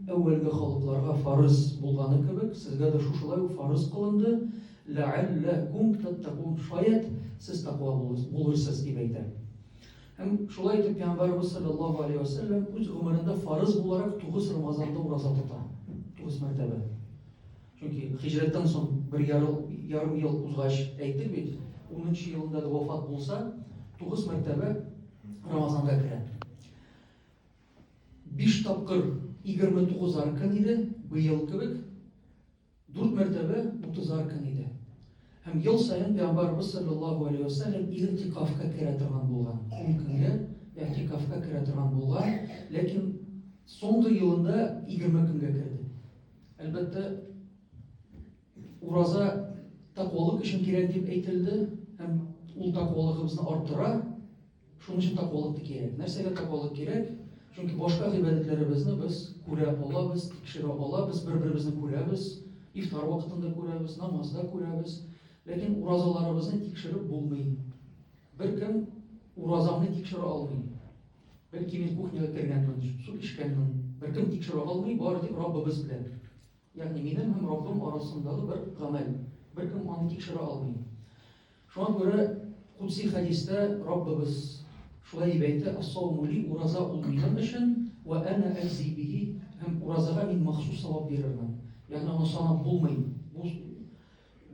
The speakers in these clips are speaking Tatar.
әүвәлге халыкларга фарыз булганы кебек, сезгә дә шушылай ук фарыз кылынды, ләәлләкум тәттәкун, шаят, сез таква булырсыз, дип әйтә. Һәм шулай итеп Пәйгамбәрбез саллаллаһу алейһи ва сәлләм үз гомерендә фарыз буларак 9 Рамазанда ураза тота. 9 мәртәбә. Чөнки хиҗрәттән соң бер ярым ярым ел узгач әйтте бит, 10 елында да вафат булса, 9 мәртәбә Рамазанга керә. Биш тапкыр 29 аркан иде, быел кебек дүрт мәртәбә 30 аркан иде. Һәм ел саен Пәйгамбарыбыз саллаллаһу алейхи ва саллям иртикафка керә торган булган. Ун көнгә иртикафка керә торган булган, ләкин соңгы елында 20 көнгә керде. Әлбәттә, ураза тәкъвалык өчен кирәк дип әйтелде, һәм ул тәкъвалыгыбызны арттыра, Шуның өчен тәкъвалык та кирәк. Нәрсәгә тәкъвалык кирәк? Чөнки башка гыйбадәтләребезне без күрә алабыз, тикшерә алабыз, бер-беребезне күрәбез, ифтар вакытында күрәбез, намазда күрәбез. Ләкин уразаларыбызны тикшереп булмый. Беркем уразамны тикшерә алмый. Бәлки мин кухняга кергәнмен, су эчкәнмен. Беркем тикшерә алмый, бары тик Раббыбыз белән. Ягъни минем һәм Раббым арасындагы бер гамәл. Беркем аны тикшерә алмый. Шуңа күрә кудси хәдистә Раббыбыз шулай дип әйтә, Ас-сауму ли, ураза ул минем өчен, вә әнә әҗзи бихи, һәм уразага мин махсус савап бирермен. Ягъни аны санап булмый. Бу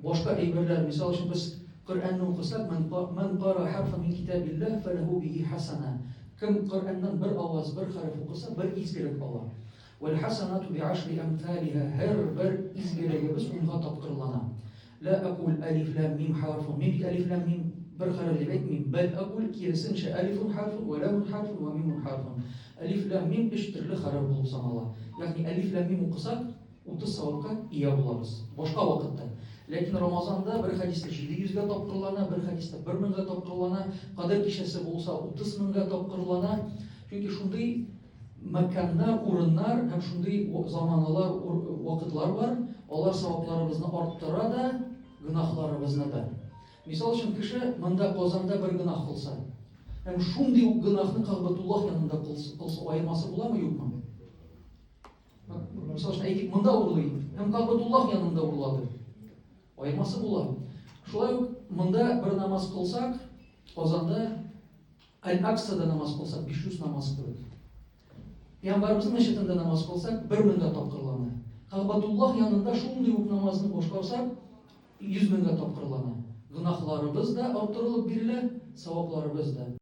башка әйберләр, мисал өчен без Коръәнне укысак, ман ман кара харфа мин китабиллаһ фалаху бихи хасана. Кем Коръәннән бер аваз, бер хәреф укыса, бер изгелек ала. Вәл хасанату би ашри амталиһа. Һәр бер изгелегебез унга тапкырлана. Лә акуль әлиф ләм мим хәрфун. Мин бит әлиф ләм мим бер хәреф дип әйтмим. Бәл акуль киресенчә әлифун хәрфун вә ләмун хәрфун вә мимун хәрфун. Әлиф ләм мим өч төрле хәреф булып санала. Ягъни әлиф ләм мим укысак, 30 савапка ия булабыз. Башка вакытта. Ләкин Рамазанда бер хәдистә 700 гә тапкырлана, бер хәдистә 1000 га тапкырлана, кадер кичәсе булса 30 меңгә тапкырлана. Чөнки шундый Мәкканнар, урыннар һәм шундый заманалар, вакытлар бар, алар савапларыбызны арттыра да, гөнаһларыбызны да. Мисал өчен, кеше монда Казанда бер гөнаһ кылса, һәм шундый ук гөнаһны Кагъбатуллаһ янында кылса, аермасы буламы, юкмы? Мисал өчен, әйтик, монда урлый, һәм Кагъбатуллаһ янында урлады. Аермасы була. Шулай ук монда бер намаз кылсак, Казанда Аль-Аксада намаз кылсак, 500 намаз кылу. Пәйгамбәребезнең мәчетендә намаз кылсак, 1000 меңгә тапкырлана. Кәгъбәтуллаһ янында шундый ук намазны башкарсак, 100 меңгә тапкырлана. Гөнаһларыбыз да арттырылып бирелә, савапларыбыз да.